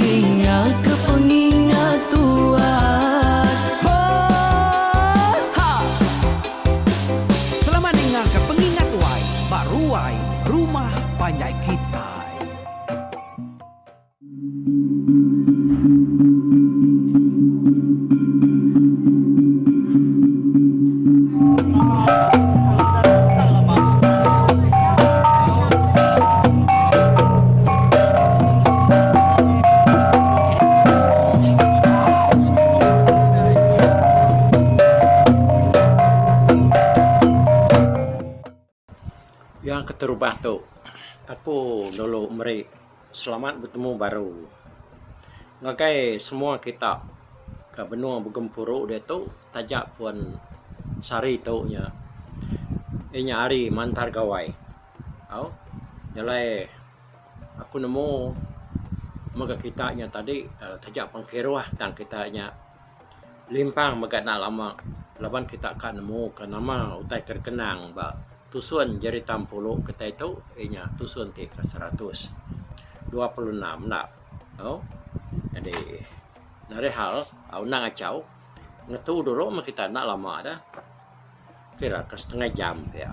Dingaka pengingat tuan. Ho ha. Selamat dingaka pengingat tuai ba ruai rumah panjai kitai. Yang keterubah tu aku lalu meri selamat betemu baru ngagai semua kita ke benung begempuru diatu taja pun sehari tu nya inya hari mantar gawai tau jalai Aku nemu mega kita nya tadi taja pun kiruh tang kita nya limpang mega enda lama laban kita ka nemu ka nama utai ke dikenang ba tusun jerita empulu kitai tu iya nya tusun ti ke seratus dua puluh enam enda tu. Jadi ngalih hal undang achau ngetu dulu meh kita enda lama dah kira ka setengah jam pia.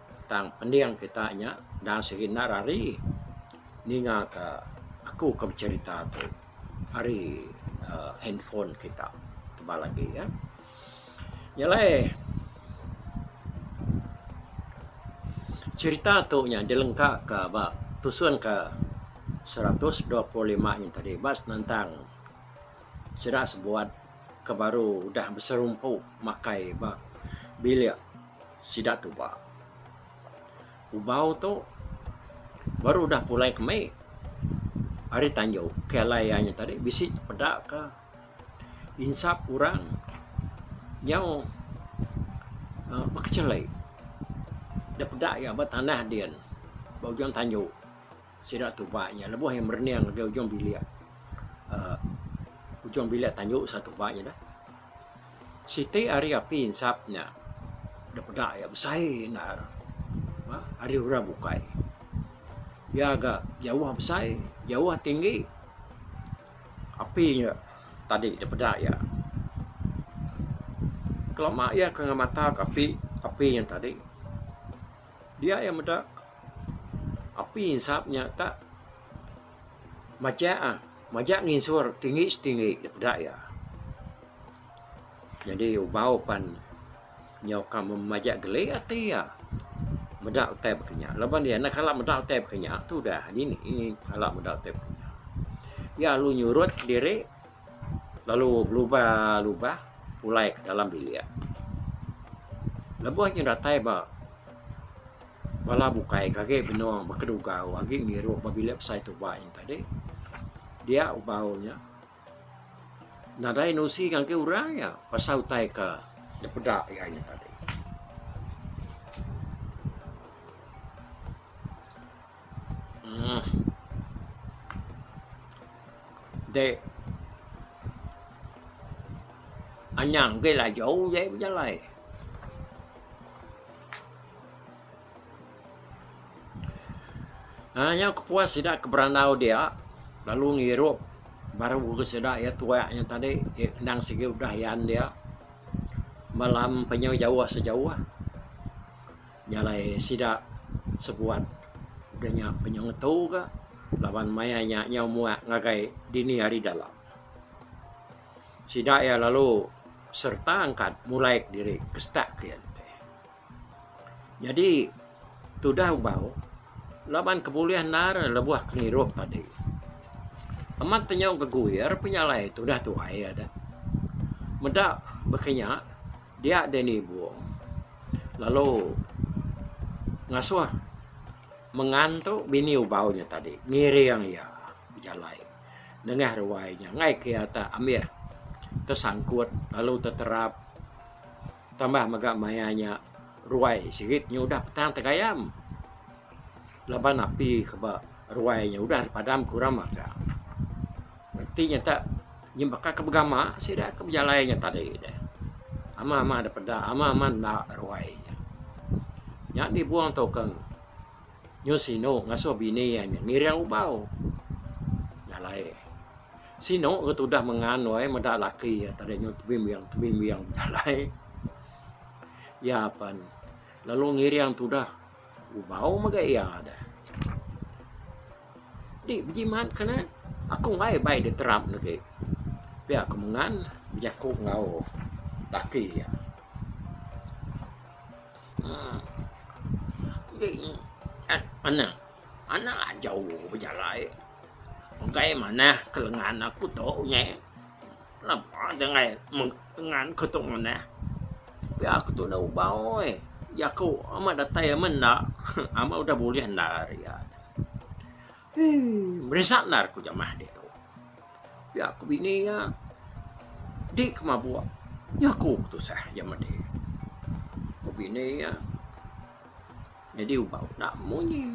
Tang pending kita nya dang serindat ari ninga ka aku ka becerita tu ari uhh handphone kita tebal agi ya. Nya alai cerita tu nya dilengka ka ba tusun ka seratus dua puluh lima nya tadi ba senentang sida sebuat ke baru udah beserumpu makai ba bilik sida tuba. Ubau tu baru udah pulai ke mei ari tanjau ke alai iya nya tadi bisi peda ke insap orang nyau aaa bekechelai. Da peda iya ba tanah din ba ujung tanjau. Sida tuba iya lebuh iya merening ngagai ujung bilik. Uh, ujung bilik tanju sa tuba iya dah. Siti ari api insap nya. Da peda iya besai endar. Ba, ari orang bukai. Iya ga jauh besai, jauh tinggi. Api nya tadi da peda iya. Kelama iya ke ngemata ke api, api nya tadi. Dia iya meda api insap nya tak majak ah majak nginsur tinggi setinggi da peda iya. Nyadi ubau pan nyau ka majak geli ati iya meda utai baka nya laban iya enda kala meda utai baka nya tudah dini kala meda utai baka nya. Iya lalu nyurut diri. lalu belubah lubah pulai ke dalam bilik lebuh nya datai ba bala bukai ke agi benung ba kedugau agi ngiru ba bilik besai tuba nya tadi dia bau nya nadai nusi ngagai orang iya pasal utai ke dipeda iya nya tadi. Hmm. Dek. Anyang ke lajau je bejalai. Ha, nya kepuas sida ke berandau dia lalu ngirup baru ke sida iya tuak nya tadi endang sigi udah yan dia malam penyu jauh sejauh. Nya alai sida sebuat udah nya ke nyau ngetu ka laban maya nya nyau muak ngagai dini ari dalam. Sida iya lalu sereta angkat mulai ke diri ke setak ke iya nitih. Nyadi tudah ubau laban ke bulih endar lebuh ke ngirup tadi. Amat ke nyau geguir pe nya alai tudah tuai iya da. Meda baka nya. Dia deh ni bung. Lalu ngasuh mengantu bini ubau nya tadi ngiring iya bejalai nengah ruai nya enggai ke iya tak ambih tesangkut lalu teterap tambah mega maya nya ruai sigi nya udah petang tegayam. Laban api ke ba ruai nya udah dipadam ku rama ka. Reti nya tak nyin baka ke begama sida ke bejalai nya tadi deh. Ama ama deh peda ama ama enda ruai nya. Nya dibong tukang nyu sinu ngasuh bini iya nya ngiring ubau jalai. Sinu ke tudah mengan wai meda laki iya tadi nyu tebimbing tebimbing bejalai. Iya pan lalu ngiring tudah. Ubau mega iya deh. Di bejimat ke ne, aku enggai bai diterap legi. Pia ku mengan bejaku enggau laki iya. Uhh. Enti anak, anak ajau bejalai enggai manah ke lengan aku tu nya. Napa janggai ngan ke tu ngundah. Pia ke tu enda uba oi. Jaku amat datai amat enda. Amat udah bulih enda ari iya. Hii merisak enda aku jamah dik tu. Pia ku bini iya. Dik ke mabuk. Jaku ke tusah iya madi. Ku bini iya. Nyadi uba utak munyi.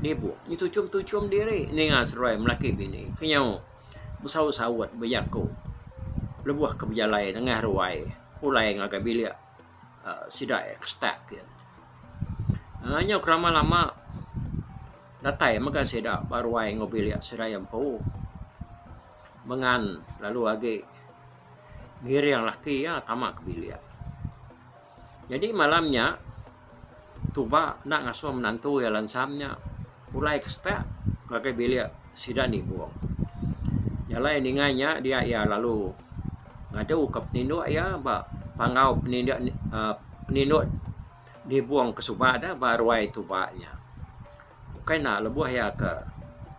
Dibu nyi tuchum-tuchum diri ninga seruai melaki bini ke nyau besaut-saut bejaku lebuh ke bejalai nengah ruai pulai ngagai bilik aaa sida iya ke setak ke. Aaa nyau ke lama-lama datai mega sida ba ruai enggau bilik sida iya empu mengan lalu agi ngiring laki iya tama ke bilik. Nyadi malam nya Tuba enda ngasuh menantu iya Lansam nya pulai ke setak ngagai bilik sida nibung. Jalai ninga nya dia iya lalu ngaduka peninduk iya ba panggau peninduk aaa peninduk nibung ke suba deh ba ruai Tuba nya. Bukai enda lebuh iya ke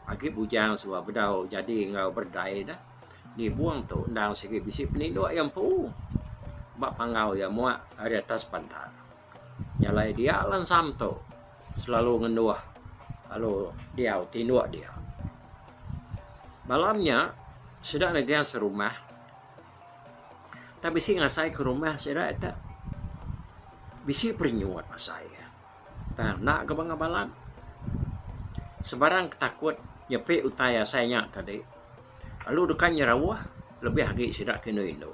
agi bujang suba bedau jadi enggau berdai deh. Nibung tu endang sigi bisi peninduk iya empu ba panggau iya muak ari atas bantal. Jalai dia lansam tu selalu ngenduh lalu diau tinduk dia. Malam nya sida negah serumah tang bisi ngasai ke rumah sida tu bisi perenyut asai iya. Tang enda ke bengah balat. Sebarang ke takut nyepi utai asai nya ke adi lalu deka nyerauh lebih agi sida ke indu indu.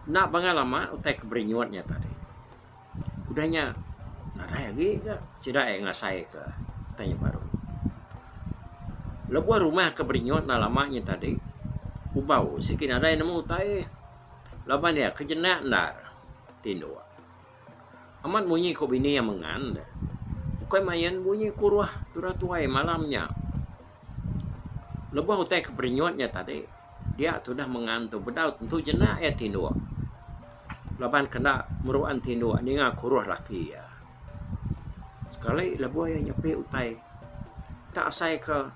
Enda bengah lama utai ke berinyut nya tadi udah nya nadai agi ga sida iya ngasai ke utai nya baru. Lebuh rumah ke berinyut enda lama nya tadi kubau sigi nadai nemu utai laban iya ke jenak endar ti indu. Amat munyi ku bini iya mengan deh. Ukai main bunyi ku ruah Tura Tuai malam nya. Lebuh utai ke perinyut nya tadi, dia tudah mengan tu bedau tentu jenak iya tinduk laban ke enda meruan tinduk ninga ku ruah laki iya. Sekali lebuh iya nyepi utai, tak asai ke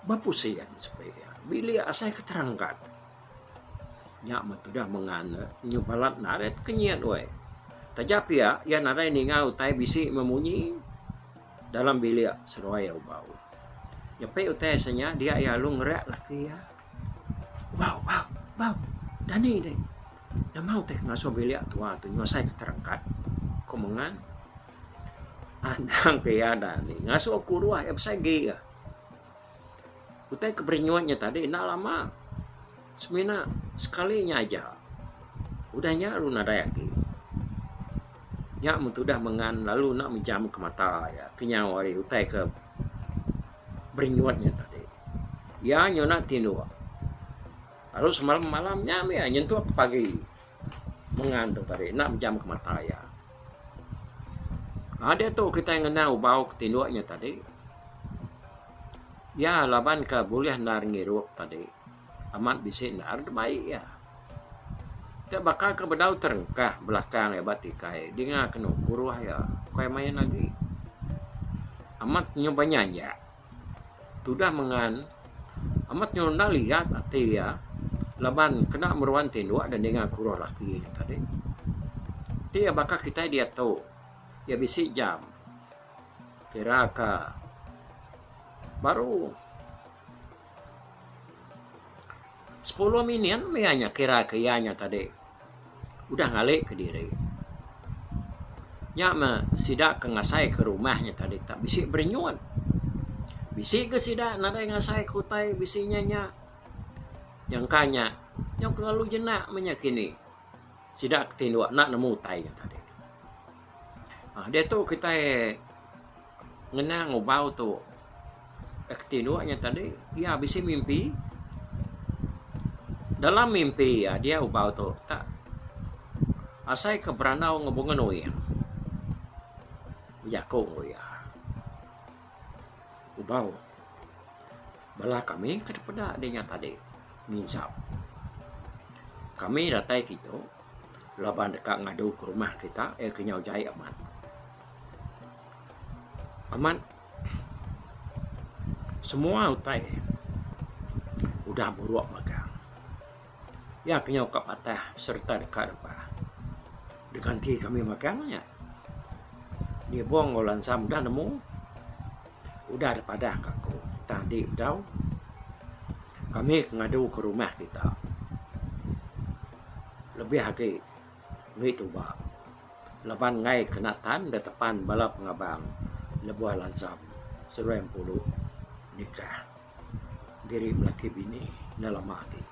bepusing sepi iya. Bilik asai ke terangkat. Nya meh tudah mengan ne nyu balat narit ke nyit weh. Taja pia iya nadai ninga utai bisi meh munyi dalam bilik seduai iya ubau. Nyepi utai se nya dia iya lalu ngereak laki iya, Bau bau bau dani deh nemu teh ngasuh bilik tuwa ti nyusai ke terangkat. Ku mengan anang ke iya dani ngasuh ku udah iya besai gih. Utai ke beri nyuat nya tadi enda lama semina sekali nya aja. Udah nya lalu nadai agi. Nya mun tudah mengan lalu enda mejam ke mata iya kenyau ari utai ke beri nyuat nya tadi. Iya nyuna ti indu lalu semalam malam nya meh iya nyentuk ke pagi mengan tu tadi enda mejam ke mata iya. Ade tu kitai ngena ubau ke tinduk nya tadi. Iya laban ke bulih endar ngirup tadi amat bisi endar ti bai iya. Ti baka ke bedau terengkah belakang iya ba tikai dinga kenu kuruh iya. Ukai main agi. Amat nyubai nyanjak. Tudah mengan amat nyerunda liat ati iya laban kena meruan tinduk da ninga kuruh laki nya tadi. Ti iya baka kitai diatu iya bisi jam kira ka baru. Sepuluh minit meh iya nya kira ke iya nya tadi udah ngali kediri. Nya meh sida ke ngasai ke rumah nya tadi tak bisi berenyun. Bisi ke sida nadai ngasai ke utai bisi inya nya. Nyangka nya nyau ke lalu jenak meh nya kini. Sida ke tinduk enda nemu utai nya tadi. Aaa diatu kitai. Ngena ngubau tu yak tinduk nya tadi iya bisi mimpi dalam mimpi iya dia ubau tu tak asai ke berandau ngan bungan uing bejaku ngan iya ubau bala kami ke dipeda dinya tadi nginsap kami datai kitu laban deka ngadu ke rumah kita iya kenyau jai amat. Amat semua utai udah buruk mega. Iya ke nyau ka patah sereta deka repa. Diganti kami mega nya. Nyubung enggau lansa meda nemu udah deh padah ka aku tang andi udah kami ke ngadu ka rumah kita lebih agi. Meri tuba laban enggai ke natan da tepan bala pengabang lebuh lansam seduai empuru nikah diri belaki bini enda lama agi.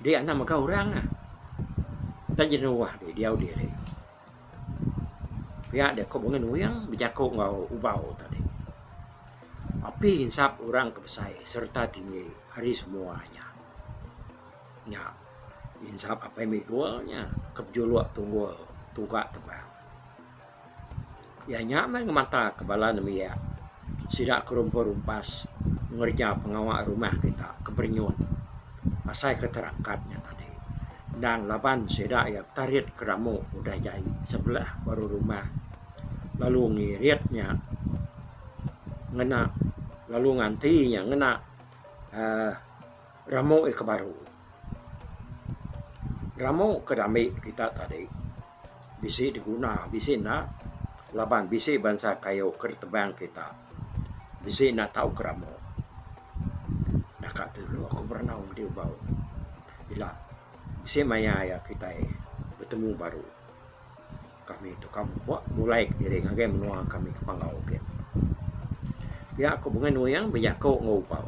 Dia anak mega orang ah. Enda jenuh deh diau diri. Pia deh ku Bengun Wing bejaku enggau Ubau tadi. Api insap orang ke besai sereta tinggi hari semua nya. Nya innsap apai Miguel nya ke bejuluk tunggul tuga teban. Iya nya meh ngemata ke bala nembiak sida ke rumpun rumpas ngereja pengawa rumah kita ke berenyun asai ke terakat nya tadi. Endang laban sida iya betarit ke ramu udah jai sebelah baru rumah lalu ngirit nya ngena lalu nganti nya ngena aaa. Ramu iya ke baru. Ramu ke dami kita tadi bisi diguna bisi enda laban bisi bansa kayu ke ditebang kita bisi enda tau ke ramu. Daka ti dulu aku berenau madi ubau ila bisi maya iya kitai betemu baru. Kami tu ka ba mulai kediri ngagai menua kami ke Panggau gin. Pia ku Bengai Nuyang bejaku enggau Ubau.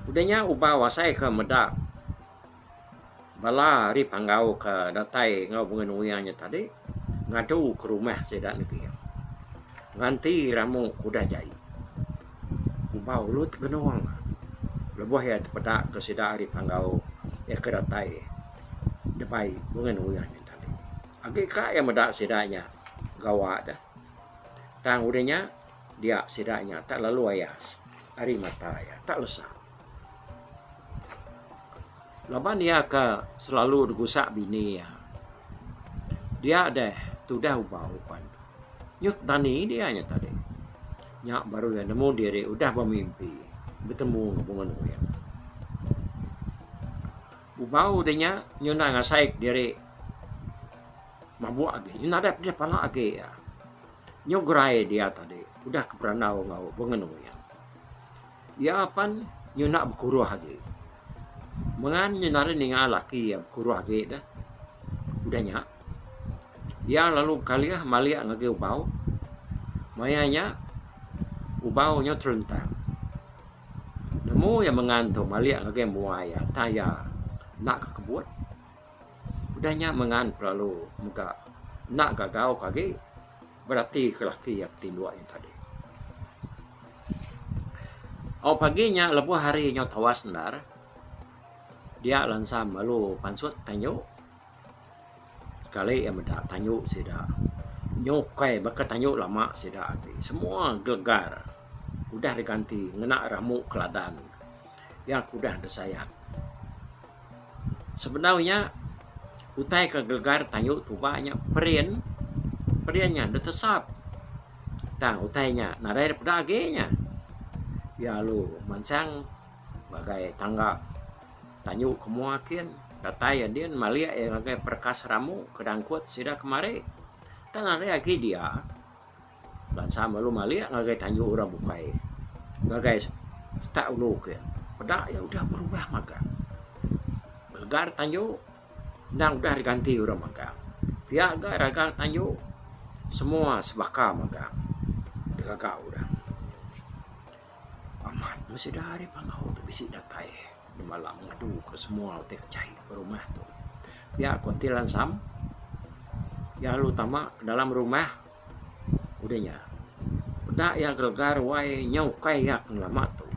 Udah nya Ubau asai ke meda bala ari Panggau ke datai enggau Bengai Nuyang nya tadi ngadu ke rumah sida negi iya. Nganti ramu ke udah jai. Ubau lut genong lebuh iya tepeda ke sida ari Panggau iya ke datai debai Bengai Nuyang nya. Agi ka iya meda sida nya gawa deh. Tang udah nya dia sida nya tak lalu ayas ari mata iya, tak lesa. Laban iya ke selalu degusak bini iya. Dia deh tudah ubau pan nyut dani dia nya tadi. Nya baru iya nemu diri udah bemimpi betemu enggau Bengonoe. Ubau deh nya nyudah ngasai kediri mabuk agi nyudah nadap deh pala agi iya. Nyu gerai dia tadi udah ke berandau enggau pengenu iya. Iya pan nyudah bekuruh agi. Mengan nyudah ari ninga laki iya bekuruh agi deh. Udah nya iya lalu bekalih malik ngagai Ubau. Maya nya Ubau nyu terentang. Nemu iya mengan tu malik ngagai mua iya tang iya enda ke kebut. Udah nya mengan ti lalu mega enda gagau ke agi berati ke laki iya ke tinduk iya tadi. Au pagi nya lebuh hari nyau tawas endar dia lansam lalu pansut tang inyu. Sekali iya meda tanyu sida nyu ukai baka tanyu lama sida agi semua gegar udah diganti ngena rambu keladan iya ke udah disayat. Sebedau nya utai ke gegar tanyu tuba nya perin, perin nya ditesap tang utai nya nadai ira peda agi nya iya lalu mansang ngagai tangga. Tanyu ke mua kin, datai iya din malik iya ngagai pereka seramu ke dangkut sida kemari. Tang ari agi dia, bansa melu malik ngagai tanyu orang bukai ngagai setak ulu kin. Peda iya udah berubah magang. Legar tanyu endang udah diganti orang magang. Pia ga ragang tanyu semua sebaka magang digaga orang. Amat meh sida ari Panggau tu bisi datai nemalang ngadu ke semua ti kejai ba rumah tu. Pia ko enti lansam iya lalu tama dalam rumah udah nya peda iya gregar ruai nya ukai iya ke ngelama tu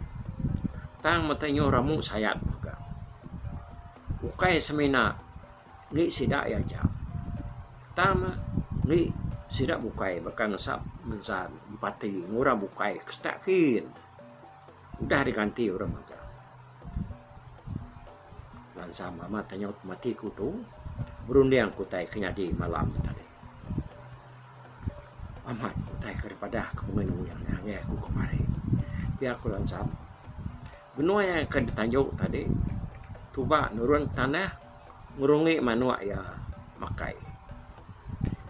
tang mete nyu ramu sayat mega. Ukai semina. enti sida iya aja tang ne enti sida bukai baka ngesap ngensa empati ngan orang bukai ke setak kin udah diganti orang mega bansa meh amat inya ti mati ku tu berunding ku utai ke nyadi malam ni tadi amat utai ke dipadah ku mung nuya ngagai aku kemari pia ku Lansan benoi ke ditanjung tadi tuba nurun tanah. ngerungi manuk iya makai.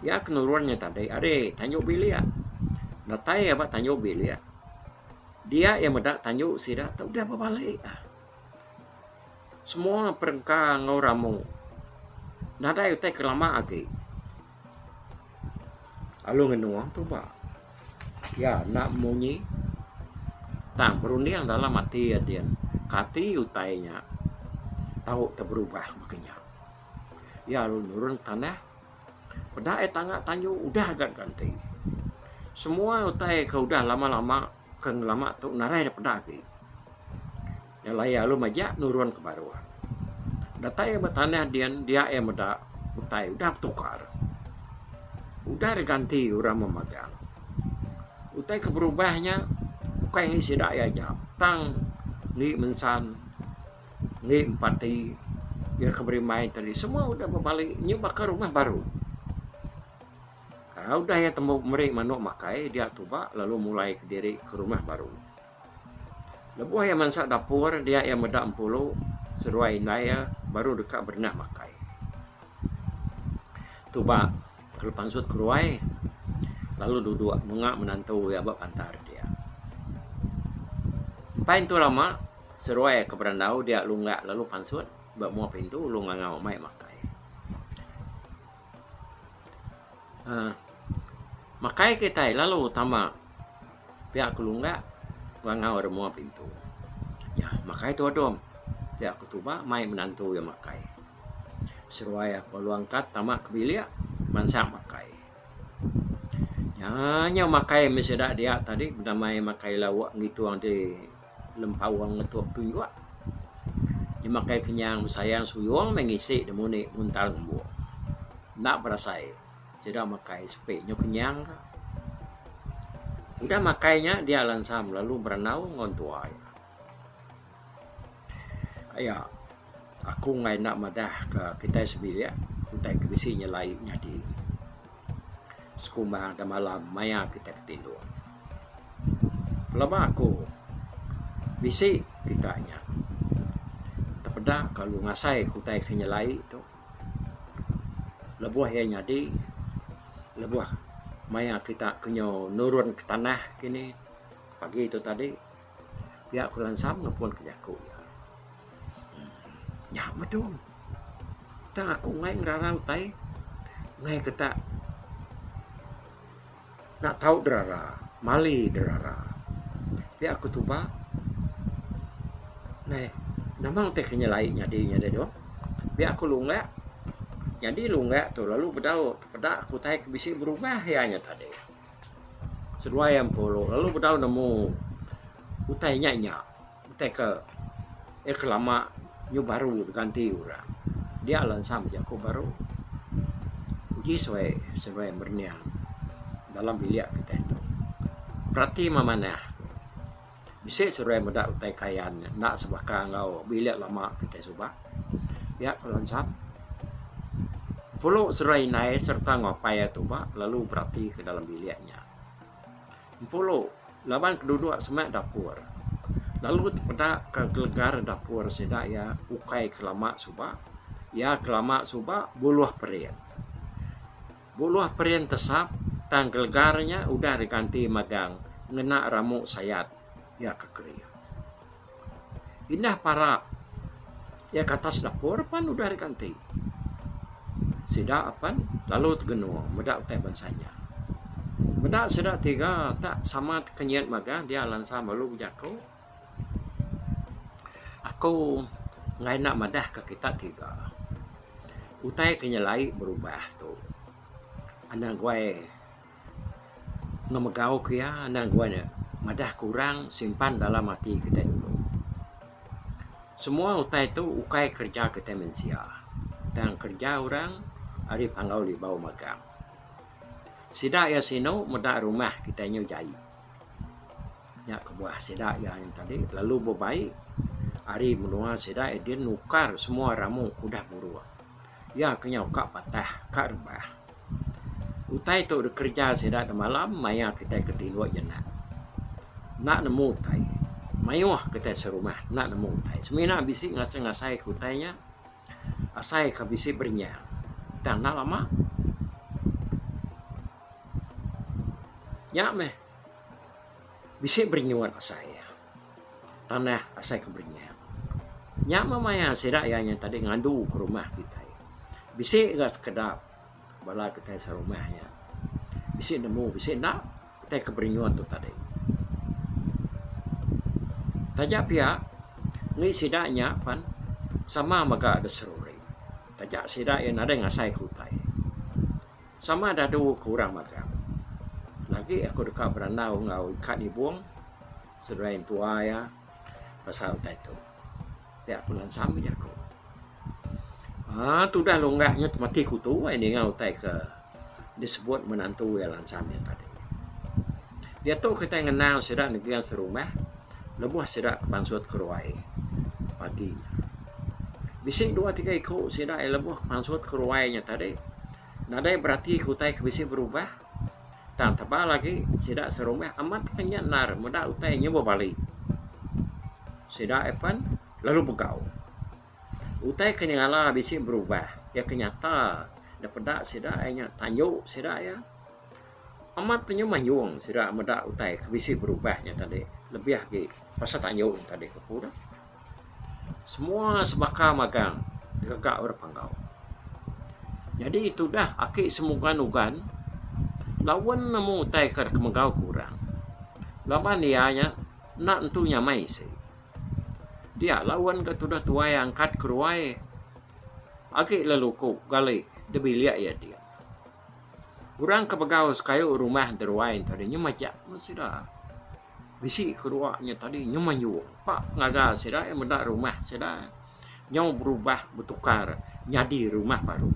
Iya ke nurun iya tadi ari tanjung bilik. Datai iya ba tanjung bilik, dia iya meda tanjung sida tu deh bebalik. Semua perengka enggau ramu nadai utai ke lama agi. Lalu ngenua tuba iya enda munyi tang berunding dalam ati iya din kati utai inya tau ke berubah maka inya. Iya lalu nurun tanah peda iya tanga tanju udah ga ganti. Semua utai ke udah lama lama. Ke ngelama tu narai da peda agi. Nya alai iya lalu majak nurun ke baruh. Datai iya ba tanah din dia iya meda utai udah betukar. Udah diganti orang memagang. Utai ke berubah nya ukai agi sida iya aja tang agi mensan agi empati iya ke berimbai tadi semua udah bebali nyau baka rumah baru. Udah iya tembu meri manuk makai dia tuba lalu mulai kediri ke rumah baru. Lebuh iya mansa dapur dia iya meda empulu seduai indai iya baru deka berenah makai. Tuba lalu pansut ke ruai lalu duduk menga menantu iya ba bantal dia. Empai intu lama seduai iya ke berandau dia lunggak lalu pansut ba mua pintu lalu ngangau mai makai. Aaa makai kitai lalu tama pia ku lungga bangau ri mua pintu. Iya makai tu adom pia ku tuba mai menantu iya makai. Seruai iya bala angkat tama ke bilik mansa makai. Nya nya makai meh sida dia tadi bendamai makai lauk ngitung ade. Lempaung ngetuk tunjuk. Jemakai kenyang besayang suyung meh ngisi demuni muntal ngembu. Enda berasai sida makai sepi nyau kenyang ka. Udah makai nya dia lansam lalu berandau enggau entua iya. Aya. Aku enggai enda madah ka kitai sebilik utai ke bisi nyelai nyadi sekumbang da malam maya kitai betinduk. Pelaba aku bisi kita nya tepeda lalu ngasai ke utai ke nyelai tu lebuh iya nyadi lebuh maya kita ke nyu nurun ke tanah kini pagi tu tadi. Pia aku lansam nepun ka jaku iya. Nya madung. Tang aku enggai ngerara utai enggai ke tak nak tau derara, mali derara. Pia aku tuba neh nama ti ke nyelai nyadi nya deh doh. Pia aku lunga nyadi lunga tu lalu bedau peda aku utai ke bisi berubah iya nya tadi. Seduai empu lu lalu bedau nemu utai nya nya utai ke iya ke lama nyu baru diganti ura dia la ensam jaku baru uji suai seduai merinik dalam bilik kitai tu berati meh manah. Bisi seruai meda utai kayan nya enda sebaka enggau bilik lama kitai suba. Pia ku Lansam, empulu seruai indai sereta enggau apai iya tuba lalu beratika dalam bilik nya. Empulu laban ke duduk sema dapur lalu tepeda ke gelegar dapur sida iya ukai ke lama suba. Iya ke lama suba buluh pering. Buluh perin tesap, tang gelegar nya udah diganti madang ngena ramu sayat, iya ke Keria. Indah parap iya ke atas dapur pan udah diganti. Sida apan lalu tegenung meda utai bansa nya. Meda sida tiga tak sama tekenyit magang dia lansa malu bejaku. Aku enggai enda madah ka kita tiga. Utai ke nyelai berubah tu enda guai ngemegau ke iya enda guai ne madah ke orang simpan dalam ati kitai dulu. Semua utai tu ukai kerja kitai mensia tang kerja orang ari panggau libau magang. Sida iya sinu meda rumah kitai nyau jai. Nya kebuah sida iya nya tadi lalu bebai ari menua sida dia nukar semua ramu ke udah muruk. Iya ke nyau ka patah ka rebah. Utai tu dikereja sida demalam maya kitai ke tinduk jenak enda nemu utai. Mayuh kitai serumah enda nemu utai. Semina bisi ngasai-ngasai ke utai nya asai ka bisi berenyang tang enda lama. Nya meh. Bisi berinyut asai iya. Tanah asai ke berinyut. Nya meh maya sida iya nya tadi ngandu ke rumah kitai. Bisi ga sekeda bala kitai serumah nya bisi nemu bisi enda utai ke berinyut tu tadi. Taja pia indi sida nya pen sama mega da seruri. Taja sida iya nadai ngasai ke utai. Sama dadu ku orang magang, lagi aku deka berandau enggau ika nibung seduai intua iya pasal utai tu. Pia ku Lan Sam meri aku. Aaa tudah longga nya temati kutu ai ninga utai ke disebut menantu iya Lan Sam nya tadi. Diatu kitai ngenang sida negin serumah lebuh sida ke bansut ke ruai pagi nya. Bisi dua tiga iku sida iya lebuh mansut ke ruai nya tadi nadai berati ke utai ke bisi berubah tang tebal agi sida serumah amat ka nya endar meda utai nyubuh bali sida iya pen lalu begau. Utai ke nyengala bisi berubah iya ke nyata da peda sida iya nya tanju sida iya amat ka nyuh manjung sida meda utai ke bisi berubah nya tadi lebih agi pasal tanju nya tadi ku aku dah. Semua sebaka magang ngaga orang Panggau. Jadi tudah aki semugan ugan lawen nemu utai ka deka megau ke orang laban iya nya enda nentu nyamai isi. Dia lawen ka tudah tuai angkat keruai agi lalu ku gali da bilik iya dia. Orang ke megau kayu rumah da ruai ento deh nyemajak meh sida. Bisi kerua nya tadi nyemai nyuh ba pengaga sida iya meda rumah sida nyau berubah betukar nyadi rumah baru.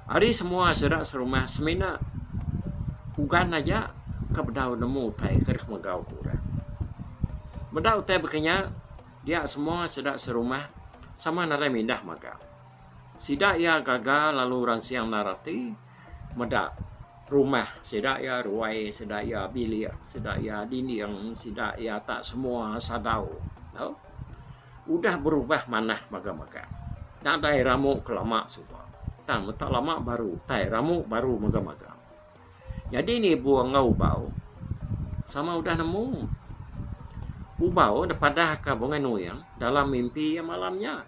Ari semua sida serumah semina pugan aja ke bedau nemu utai ke deka megau ke orang. Meda utai baka nya dia semua sida serumah sama nadai mindah magang. Sida iya gaga lalu ransing endar ati. meda rumah sida iya ruai sida iya bilik sida iya dinding sida iya ta semua sadau tu udah berubah manah mega mega nadai ramu ke lama suba tang meta lama baru tai ramu baru mega mega jadi nibu enggau ubau sama udah nemu ubau da padahka bunga nuing dalam mimpi iya malam nya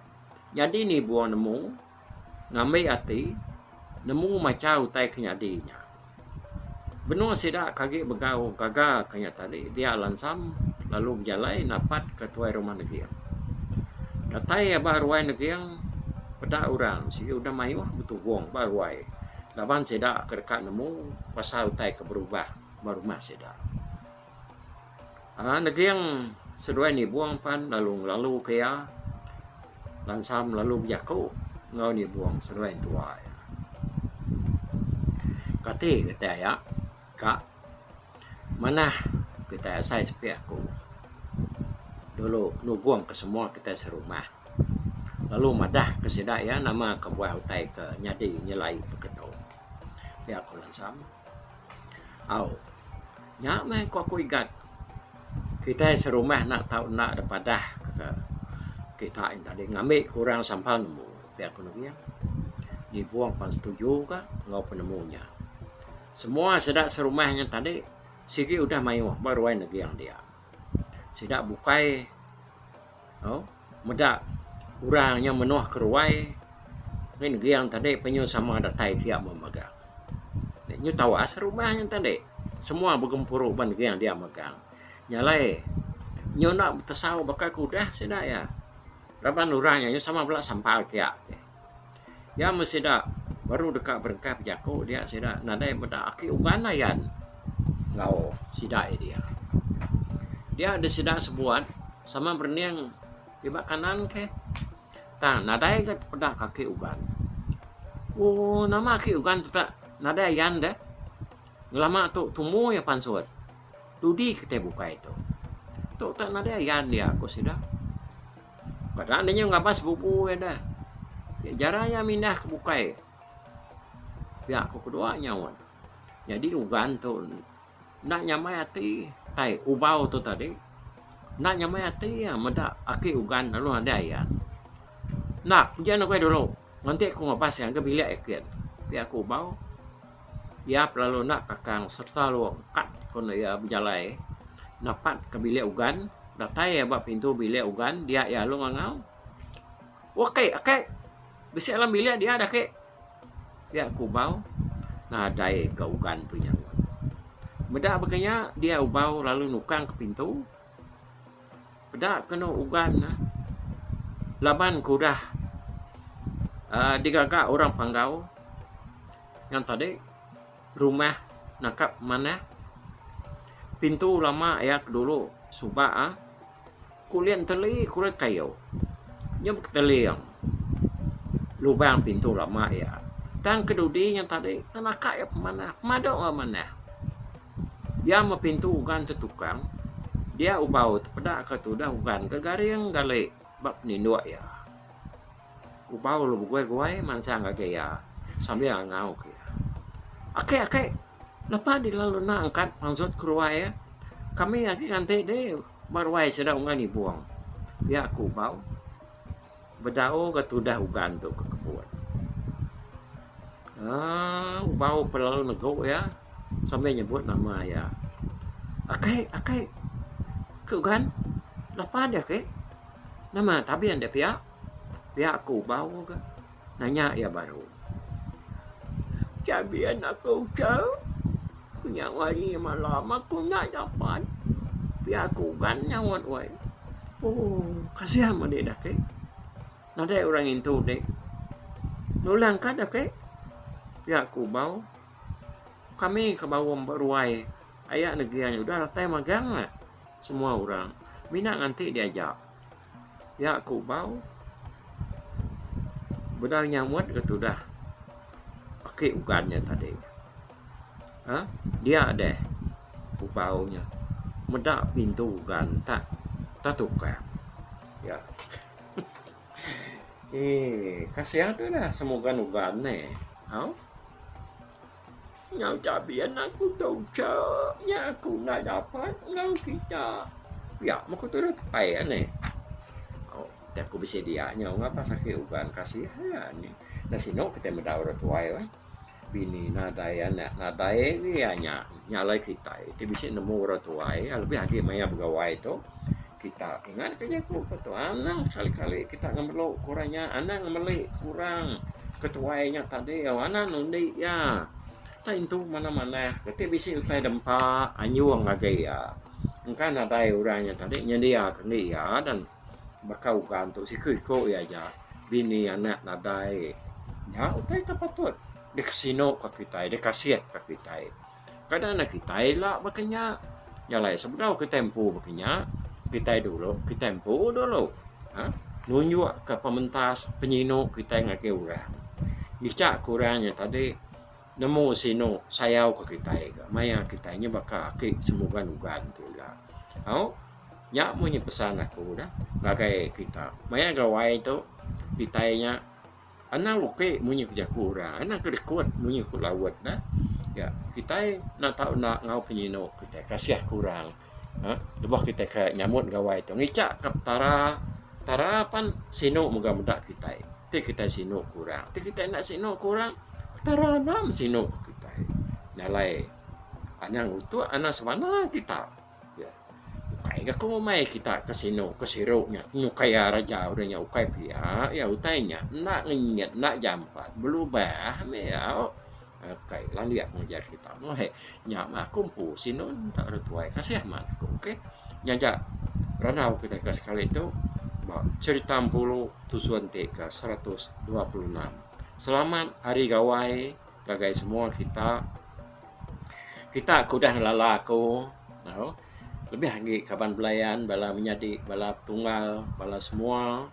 jadi nibu nemu. ngambi ati nemu macha utai ke nyadi nya. Benung sida ke agi begau gaga ke nya tadi dia lansam lalu bejalai napat ke tuai rumah neging. Datai ia ba ruai neging peda orang sigi udah mayuh betubung ba ruai laban sida ke deka nemu pasal utai ke berubah ba rumah sida. Neging seduai nibung pan lalu ngelalu ke iya. Lansam lalu bejaku enggau nibung seduai entua iya. Kati kitai iya ka manah kitai asai sepiak aku dulu nubung ke semua kitai serumah lalu madah ke sida iya nama ke buah utai ke nyadi nyelai beketo. Pia ku Lansam. Au. Nya meh ko aku igat. Kitai serumah enda tau enda deh padah ke kita inta deh ngambi ke orang sampal nemu pia ko Nubing. Nibong pan setuju ka enggau penemu nya. Semua sida serumah nya tadi sigi udah mayuh ba ruai Neging dia. Sida bukai. Au, meda orang nya menoh ke ruai ngin neging tadi penyu sama datai pia meh megang. Nyu tawas rumah nyen tadi. Semua begempuru uban neging dia megang. Nya alai nyu enda betesau baka ke udah sida iya. Raban orang nya sama bala sampal pia. Iya meh sida baru deka berengkah bejaku dia sida nadai meda aki uban layan enggau sida iya dia. Dia deh sida sebuat sama berening iba kanan keh tang nadai ga peda aki uban. Ooh nama aki uban teta nadai ayan deh ngelama tu tumu iya pansut dudi kitai bukai tu. Tu ta nadai ayan iya ku sida. Peda nya ngaban sebubu iya da. Jarang iya mindah ke bukai. Pia ku kedua nya un. Nyadi ugan tu enda nyamai ati tai ubau tu tadi enda nyamai ati iya meda aki ugan lalu nadai iya. Enda pia ugai dulu. Enti ku ngabas ngagai bilik eken pia ku ubau. Iya pelalu enda takang sereta long kad kun iya bejalai napat ke bilik ugan datai iya ba pintu bilik ugan dia iya alu ngangau oh ake ake bisi alam bilik dia deh ake dia kubau nadai ka ugan tu nyaut meda ba kenyau dia ubau lalu nukang ke pintu. Peda kenu ugan ne laban ke udah aaa digaga orang panggau ngan tadi rumah nakap manah pintu lama iya ke dulu suba aaa kulit enteli kulit kayu nyau keteling lubang pintu lama iya tang kedudi nyau tadi naka iya pemanah pemadu manah. Dia mepintu ugan ke tukang, dia ubau tepeda ke tudah ugan ke garing gali ba peninduk iya. Ubau lu beguai-guai mansang agi iya sambil ngau ke iya, Aki, aki, lepa di lalu enda angkat pansut ke ruai iya? Kami agi nganti dih ba ruai sida ungan ibung, iya ku ubau. Bedau ga tudah ugan tu ke kebun. Aaa ubau pun lalu negu iya sambil nyebut nama iya. Akai, akai, ke ugan lapa deh ke? Nama tabi ande pia? Pia ke ubau ke? Nanya iya baru. Tabi anak ke uchau. Ku nya wai malam aku enda dapat pia kugan nyaut wai ooh kasian meh deh ake nadai orang intu deh nulung ka deh ake pia ku bau kami ke bau ba ruai aya negeri udah datai magang semua orang mina nganti diaja. Nya aku bau benang nyamut ke tudah ake ugan nya tadi aaa dia deh ku bau nya meda pintu ugan tak tak tukang ya eee kasian tudah semugan ugan ne hau. Nyau tabi anak ku tu cha nya aku enda dapat enggau kita. Pia meh ku turun tepai ani. Ti aku bisi dia nyau ngapa sakit uban kasihan nya. Enda sinu kitai meda orang tuai weh. Bini nadai anak nadai agi nya alai kitai ti bisi nemu orang tuai lebih agi maya begawai tu Kita ingat ke jaku ke tu anang sekali kali kita ngemelu ke orang nya anang ngemeli ke orang ke tuai nya tadi anang nundi iya tai entu manah manah reti bisi utai dempa anjung agi iya engka nadai orang nya tadi nyendia ke enggin iya dan baka ugan tu siku iku iya aja bini anak nadai nya utai ke patut dikesinu ka kitai dikasih ka kitai. Kada anang kitai ila baka nya. Nya alai sebedau kitai empu baka nya, kitai dulu kitai empu dulu ha nunjukka pementas penyinu kitai ngagai orang. Ngica ke orang nya tadi nemu sinu sayauka kitai ga maya kitai nya baka aki semugan-ugan tu ila. Au nya munyi pesan aku dah ngagai kita. Maya gawai tu kitai nya. Anang uke munyi ke jaku orang, anang ke rekod munyi ku laut nah. Ya, kitai enda tau enda enggau penyinu kitai kasih ke orang. Ha, lebuh kitai ke nyambut gawai tu ngica ke Petara, Petara pan sinu mega meda kitai. Ti kitai sinu ke orang, ti kitai enda sinu ke orang, Petara enda mesinu ke kitai. Nya alai anang utuk, anang semana kita. Ukai ga ku ngumbai kita ke sinu ke siru nya nyukai raja udah nya ukai pia iya utai nya enda ngenyit enda jampat belubah meh iya ukai landik ngajar kita meh he nya meh aku empu sinu enda ada tuai kasih amat aku okay nya ja randau kita ke sekali tu ba cherita Empulu tusun ti ke seratus dua puluh enam selamat hari gawai Ngagai semua kita, kita ke udah ngelala aku tau, lebih agi kaban belayan, bala menyadi, bala petunggal, bala semua,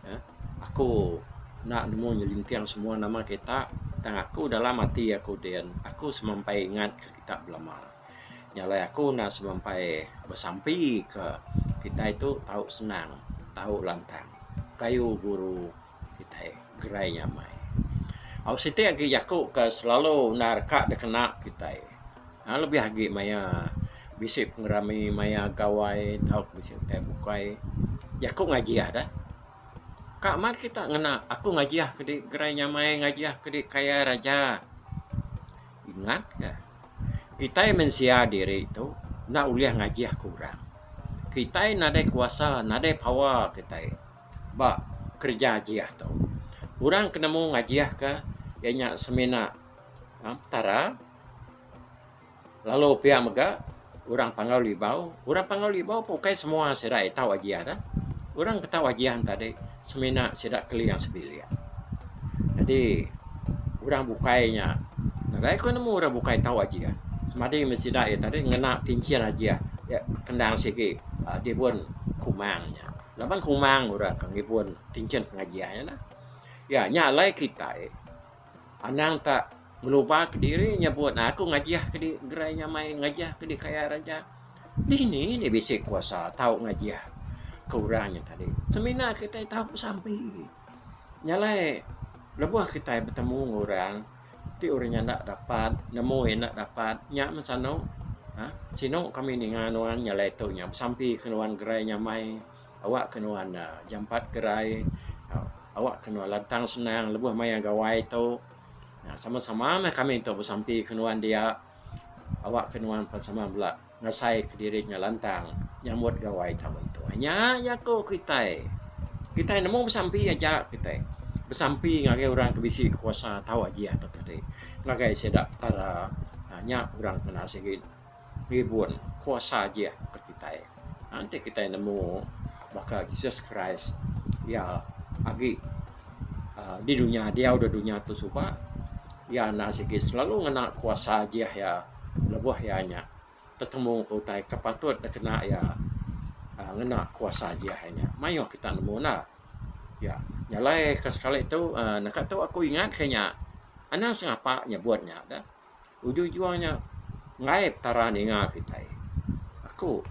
uhh aku enda nemu nyelinting semua nama kita tang aku dalam ati aku din, aku semampai ingat ke kita belama. Nya alai aku enda semampai besampi ke kitai tu tau senang, tau lantang, kayu guru. kitai gerai nyamai. Au siti agi jaku ke selalu undar ka dikena kitai aaa lebih agi maya bisi pengerami maya gawai tauka bisi utai bukai jaku ngajih deh. Ka amat kita ngena aku ngajih kedi gerai nyamai ngajih kedi kaya raja. Ingat ka kitai mensia diri tu enda ulih ngajih ke orang. Kitai nadai kuasa nadai power kitai. ba kereja ajih tu. Orang ke nemu ngajihka iya nya semina Petara lalu pia mega orang Panggau Libau. Orang Panggau Libau pun ukai semua sida iya tau ajian ne. Orang ke tau ajian ne tadi semina sida keling sebilik. Jadi orang bukai nya nadai ku nemu orang bukai tau ajian semadi meh sida iya tadi ngena kinchin ajian iya kendang sigi dibun kumang nya. Laban Kumang udah ka ngibun kinchin pengajian nya nah. Ya nya alai kitai anang ta ngeluba ke diri nyebut nah aku ngajih ke di gerai nyamai ngajih ke di kayar aja. Dini nih bisi kuasa tau ngajih ke orang nya tadi. Semina kitai tau besampi. Nya alai lebuh kitai betemu enggau orang Ti urang nya enda dapat nemu iya enda dapat nya meh sanu aaa sinu kami ninga nuan nyalai tu nya besampi ke nuan gerai nya amai awakka nuan jampat gerai awakka nuan lantang senang lebuh maya gawai tu sama sama meh kami tu besampi ke nuan dia awakka nuan sama bela. Ngasai ke diri nya lantang nyambut gawai tang mentua. Nya jaku kitai. Kitai nemu besampi aja kitai. Besampi ngagai orang ke bisi kuasa tau aji atuk adi. Ngagai sida petara uhh nya orang kena sigi ngibun kuasa aji atuk kitai. Nya enti kitai nemu baka Jesus Christ iya agi uhh di dunya diau da dunya tu suba iya enda sigi selalu ngena kuasa aji iya. lebuh iya nya tetemu ke utai ke patut dikena iya ngena kuasa JI nya. Mayuh kita nemu enda. Iya nyalai ke sekali tu uhh naka tu aku ingat ke nya anang sengapa nyebut nya dah. Ujung-ujung nya ngaip tara ninga kitai. Aku.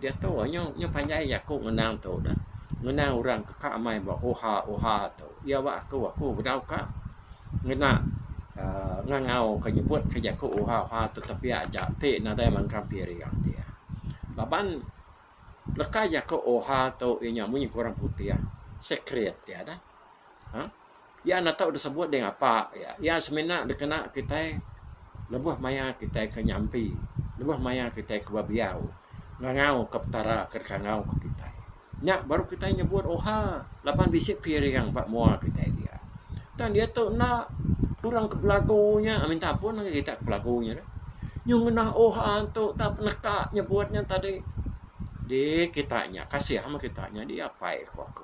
Diatu nyu nyu panjai aku ngenang tu dah. Ngenang orang ke ka amai ba oha oha tu. Iya ba aku aku bedau ka ngena uhh ngangau ka nyebut ka jaku oha oha tu tepiak aja ti nadai mangkang piring dia. Laban leka jaku oha tu inya munyi ke orang putih secret dia dah. Uhh Iya enda tau disebut ding Apa iya. Iya semina dikena kitai lebuh maya kitai ke nyampi, lebuh maya kitai ke bebiau ngangauka Petara ke dikangauka kitai. Nya baru kitai nyebut oha laban bisi piring ba mua kitai dia. Tang diatu enda, orang ke belagu nya minta ampun ngagai kita ke belagu nya deh. Nyuh ngenah oha tu enda peneka nyebut nya tadi. Dik kita nya kasih meh kita nya dik apai ku aku.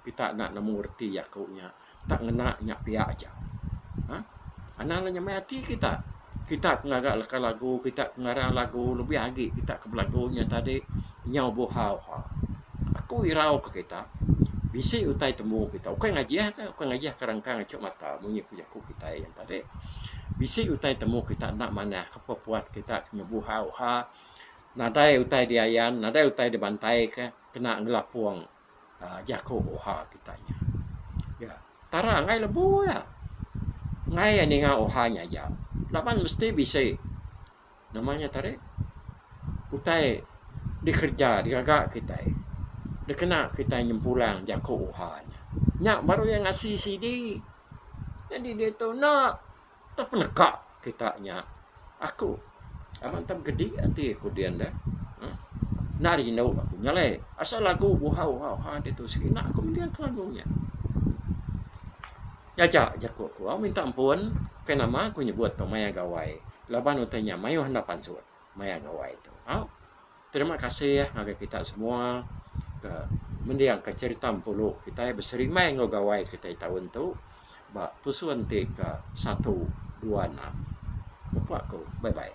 Pita enda nemu reti jaku nya. Pita ngena nya pia aja. Ha. Anang nya nyamai ati kita. Kita ke ngaga leka lagu, kita ke ngarang lagu, lebih agi kita ke belagu nya tadi nyau buhau. Ha. Aku irau ka kita bisi utai tembu kita. Ukai ngajih ka, ukai ngajih ka rengkang acu mata munyi ku jaku kitai nya tadi. Bisi utai tembu kita enda manah ka pa puas kita ke nyau buhau. Ha. Nadai utai diayan, nadai utai dibantai ka kena ngelapong. Jaku Oha kita nya. Ya, tara angai lebu iya. Angai iya ninga Oha nya aja. Laban mesti bisi nama nya tadi utai dikereja digaga kitai dikena kitai nyempulang jaku Oha nya. Nya baru iya ngasi sidi. Nyadi diatu enda. Tang peneka kita nya aku amat ntem kedi ati aku din deh uhh enda rindu aku nya alai asal lagu buhau uhau ha ditu sida aku mending ke lagu nya. Nyaja jaku aku au minta ampun bukai nama aku nyebut tu maya gawai laban utai nya mayuh enda pansut maya gawai tu au. Terima kasih ngagai kita semua ke mendiangka cherita Empulu kitai beserimbai enggau gawai kitai taun tu ba tusun ti ke satu dua enam. Bepa aku, bye bye.